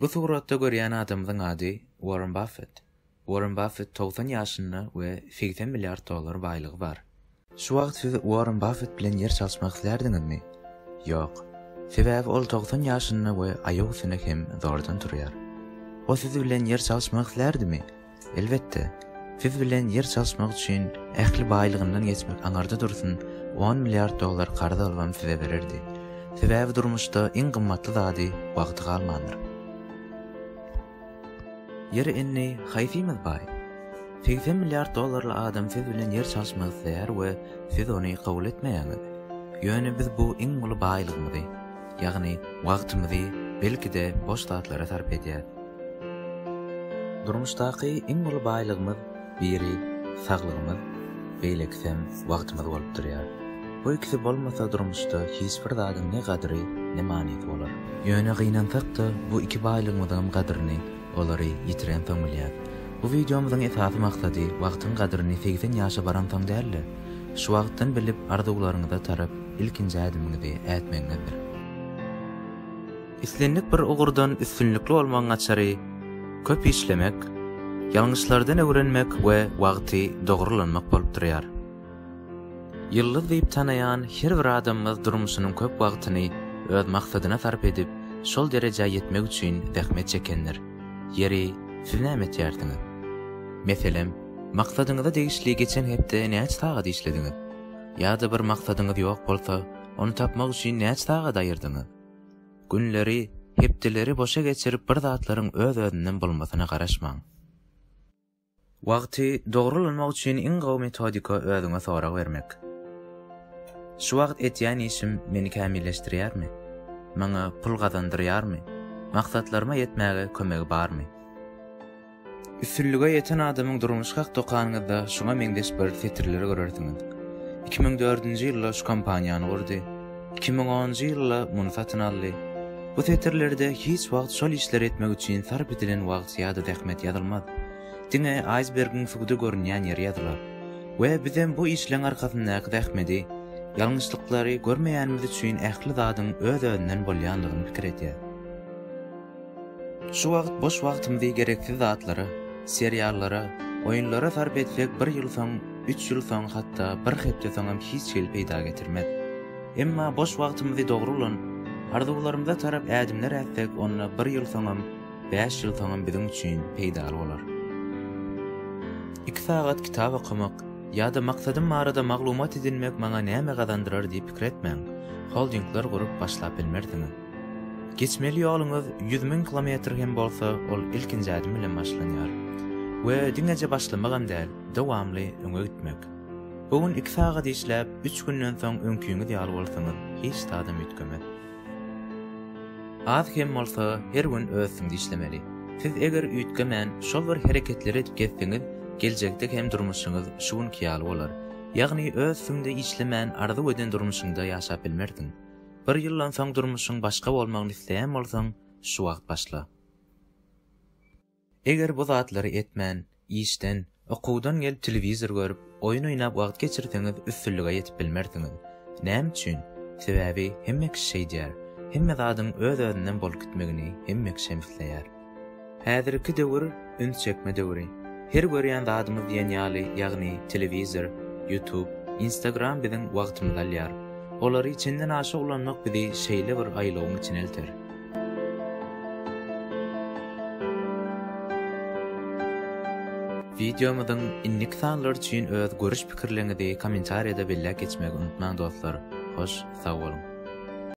Bu suratda görýän adamyzyň ady Warren Baffet. Warren Baffet togsan ýaşynda we segsen milliard dollar baýlygy bar. Şu wagt siz Warren Baffet bilen ýer çalyşmak islärdiňizmi? Ýok. Sebäbi ol togsan ýaşynda we aýak üstüne hem zordan turýar. O siz bilen ýer çalyşmak islärdimi? Elbetde, siz bilen ýer çalyşmak üçin ähli baýlygyndan geçmek aňarda dursun, on milliard dollar karz alybam size bererdi. Sebäbi durmuşda iň gymmatly zady wagty galmandyr. Ýeri indi haýsymyz baý? Segsen milliard dollarly adam siz bilen ýer çalyşmak isleýär we siz ony kabul etmeýäňiz. Ýöne biz bu iň uly baýlygymyzy. Ýagny, wagtymyzy, belki-de, boş zatlara sarp edýäris. Durmuşdaky iň uly baýlygymyz biri saglygymyz, beýlekisem wagtymyz bolup durýar. Bu ikisi bolmasa durmuşda hiç bir zadyň ne gadyry, ne manysy bolar. Ýöne gynansak-da bu iki baýlygymyzyňam gadyryny olary ýitirensoň bilýäs. Bu wideomyzyň esasy maksady wagtyň gadyryny segsen ýaşa baransoň däl-de, şu wagtdan bilip arzuwlaryňyza tarap Ilkinji ädimiňizi ätmegiňizdir. Islendik bir ugurdan üstünlikli bolmagyň açary, köp işlemek, ýalňyşlardan öwrenmek we wagty dogry ulanmak bolup durýar. Ýyldyz diýip tanaýan her bir adamymyz durmuşynyň köp wagtyny öz maksadyna sarp edip, şol derejä ýetmek üçin zähmet çekendir. Ýeri, siz näme etýärsiňiz? Meselem, maksadyňyza degişli geçen hepde näçe sagat işlediňiz? Ýa-da bir maksadyňyz ýok bolsa, ony tapmak üçin näçe sagat aýyrdyňyz? Günleri, hepdeleri boşa geçirip bir zatlaryň öz-özünden bolmasyna garaşmaň. Wagty dogry ulanmak üçin iň gowy metodika özüňe sorag bermek. Şu wagt etýän işim meni kämilleşdirýärmi? Maňa pul gazandyrýarmy? Maksatlaryma ýetmäge kömegi barmy? Üstünlige ýeten adamyň durmuş hak dokanyňyzda şuňa meňzeş bir setirleri görersiňiz. Iki müň dördünji ýylda şu kompaniýany gurdy. Iki müň onunjy ýylda muny satyn aldy. Bu setirlerde hiç wagt şol işleri etmek üçin sarp edilen wagt ýa-da zähmet ýazylmaz. Diňe aýsbergiň suwda görünýän ýeri ýazylar. We bizem bu işleň arkasyndaky zähmeti, ýalňyşlyklary görmeýänimiz üçin ähli zadyň öz-özünden bolýandygyny pikir edýäs. Şu wagt boş wagtymyzy gereksiz zatlara, seriallara, oýunlara sarp etsek bir ýyl soň, üç ýyl soň hatda bir hepde soňam hiç hili peýda getirmez. Emma boş wagtymyzy dogry ulanyp, arzuwlarymyza tarap ädimler ätsek onda bir ýyl soňam, bäş ýyl soňam biziň üçin peýdaly bolar. Iki sagat kitap okamak ýa-da maksadym barada maglumat edinmek maňa näme gazandyrar diýip pikir etmäň. Holdingler gurup başlap bilmersiňiz. Geçmeli ýoluňyz ýüz müň kilometr hem bolsa, ol ilkinji ädim bilen başlanýar. We diňeje başlamagam däl, dowamly öňe gitmek. Bu gün iki sagat işläp, üç günden soň öňkiňiz ýaly bolsaňyz, hiç zadam üýtgemez. Az hem bolsa, her gün öz üstüňde işlemeli. Siz eger üýtgemän, şol bir hereketleri edip gezseňiz, geljekde hem durmuşyňyz şu günki ýaly bolar. Ýagny öz üstüňde işlemän arzuw eden durmuşyňda ýaşap bilmersiň. Bir ýyldan soň durmuşyň başga bolmagyny isleýän bolsaň, şu wagt başla. Eger bu zatlary etmän, işden, okuwdan gelip telewizor görüp, oýun oýnap wagt geçirseňiz üstünlige ýetip bilmersiňiz. Näme üçin? Sebäbi hemme kişi şeýdýär. Hemme zadyň öz-özünden bolup gitmegini hemme kişem isleýär. Häzirki döwür üns çekme döwri. Her görýän zadymyz diýen ýaly, ýagny telewizor, YouTube, Instagram biziň wagtymyzy alýar. Olary çenden aşa ulanmak bizi şeýle bir aýlawyň içine elter. Wideomyzyň indiki sanlary üçin öz görüş-pikirleriňizi kommentariýada belläp geçmegi unutmaň dostlar. Hoş sag boluň.